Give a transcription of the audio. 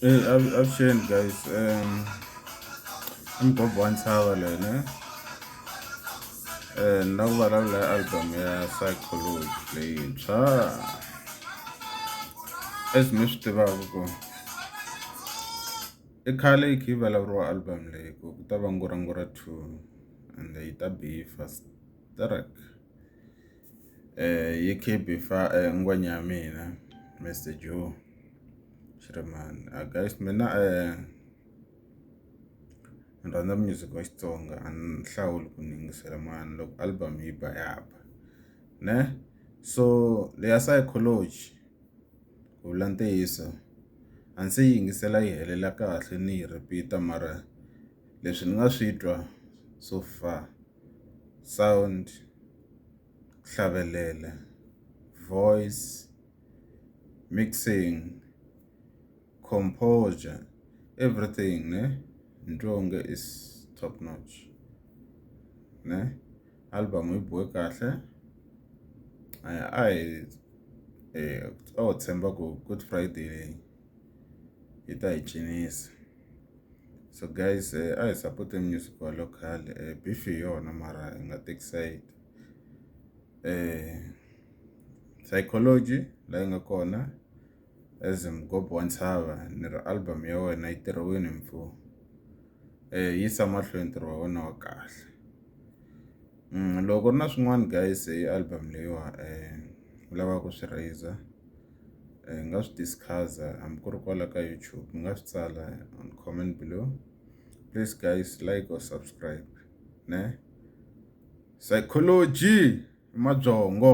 Eyi avuxeni guys i mugovha wa ntshava loyi ne ni la ku vulavula hi album ya Saichology leyintshwa as mi swi tivaku ku i khale yi kha yi vulavuriwa album leyi ku ku ta va ngura ngura two ende yi ta be yi fast . eh, yekebhe fa eh, ngwanyamina mr joe shiraman uh, ah, guys mina eh, ni rhandza music wa xitsonga a ni hlawuli ku ni yingisela mani loko album yi ba ya ba ne so leya psychology ku vula ntiyiso a ndzi yi yingisela yi helela kahle ni yi repeat-a mara leswi ni nga swi twa so far sound ku hlavelela voice mixing composure everything ne ni twa onge is top notch ne album yi bohe kahle a hi a ho tshemba ku good friday leyi yi ta hi cinisa so guys eh, a hi support-e music wa local eh, beef hi yona mara hi nga take side eh, psychology la yi nga kona as mgob wa ntshava ni ri album ya wena yi tirhiwini mfu eh, yisa mahlweni ntirho wa wena wa kahle mm, loko ri na swin'wana guys hi album leyiwa um eh, lavaka ku swi raiser hi nga swi discuss-a hambi ku ri kwala ka YouTube mi nga swi tsala on comment below please guys like or subscribe ne psychology mabyongo